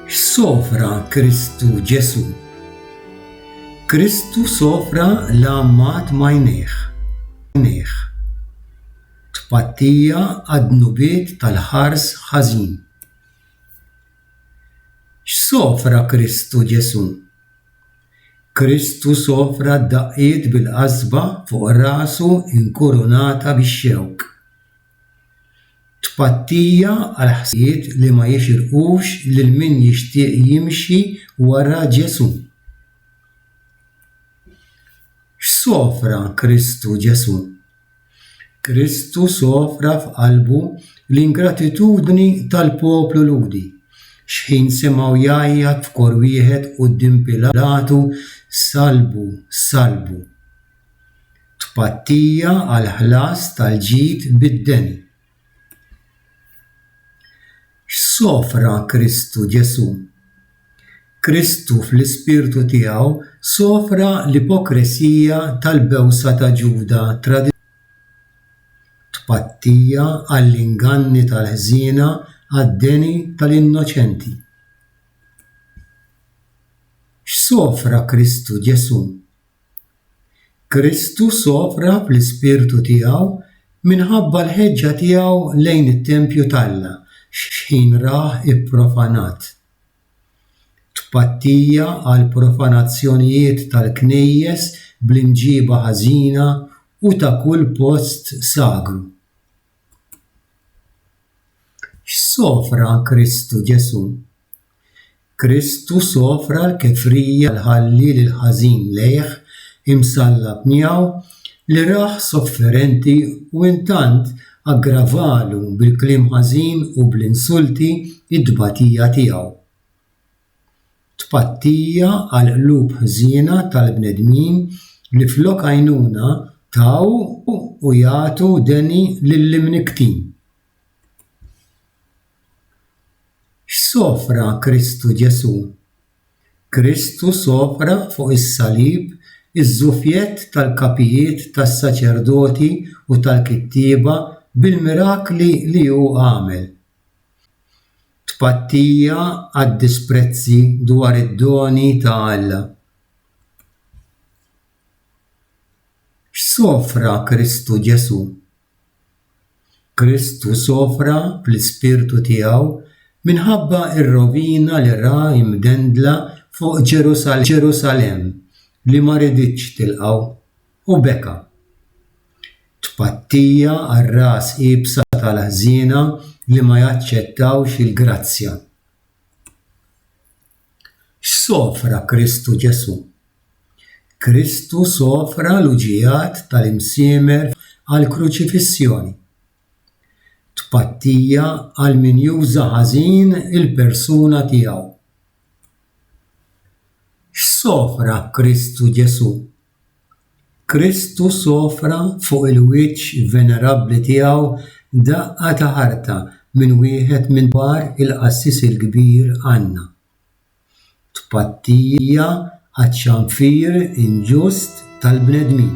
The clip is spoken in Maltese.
X'sofra Kristu Ġesu? Kristu sofra l-għammat m'għajnejh, għajnejh, tpattija għad-dnubiet tal-ħars ħażin. X'sofra Kristu Ġesu? Kristu sofra d-daqqiet bil-qasba fuq rasu inkurunata bix-xewk. Tpattija għal ħsijiet li ma jixirqux lil min jixtieq jimxi wara Ġesù. X'sofra Kristu Ġesù? Kristu sofra f'qalbu l-ingratitudni tal-poplu Lhudi, xħin simgħu jgħajjat f'kor wieħed quddiem Pilatu, Salbu, salbu! Tpattija għall-ħlas tal-ġid bid-deni. X'sofra Kristu Ġesù? Kristu fl-ispirtu tiegħu sofra l-ipokresija tal-bewsa ta' Ġuda traditur, tpattija għall-inganni tal-ħżiena għad-deni tal-innoċenti. X'sofra Kristu Ġesù? Kristu sofra fl-ispirtu tiegħu minħabba l-ħeġġa tiegħu lejn it-tempju t'Alla x'ħin rah ipprofanat. Tpattija għall-profanazzjonijiet tal-knejjes bl-imġiba ħażina u ta' kull post sagru. X'sofra Kristu Ġesù? Kristu sofra l-kefrija li tħalli lill-ħażin lejh imsallab miegħu li rah sofferenti u intant aggravalu bil-kliem ħażin u bl-insulti t-tbatija tiegħu. Tpattija għall-qlub ħżiena tal-bnedmin li flok għajnuna taw u jagħtu deni lill-imnikktin. X'sofra Kristu Ġesù? Kristu sofra fuq is-salib iż-żufjett tal-kapijiet tas-saċerdoti u tal-kittieba bil-mirakli li hu għamel. Tpattija għad-disprezzi dwar id-doni ta' Alla. X'sofra Kristu Ġesù? Kristu sofra fl-ispirtu tiegħu minħabba r-rovina li ra imdendla fuq Ġerusalemm li ma riditx tilqgħu, u beka. Tpattija għar-ras iebsa tal-ħżiena li ma jaċċettawx il-grazzja. X'sofra Kristu Ġesù? Kristu sofra l-uġigħat tal-imsiemer għall-kruċifissjoni, tpattija għal min juża ħażin il-persuna tiegħu. X'sofra Kristu Ġesù? Kristu sofra fuq il-wiċċ venerabbli tiegħu daqqa ta' ħarta minn wieħed minn kbar il-Qassis il-Kbir Anna. tpattija għaċ-ċanfir inġust tal-bnedmin.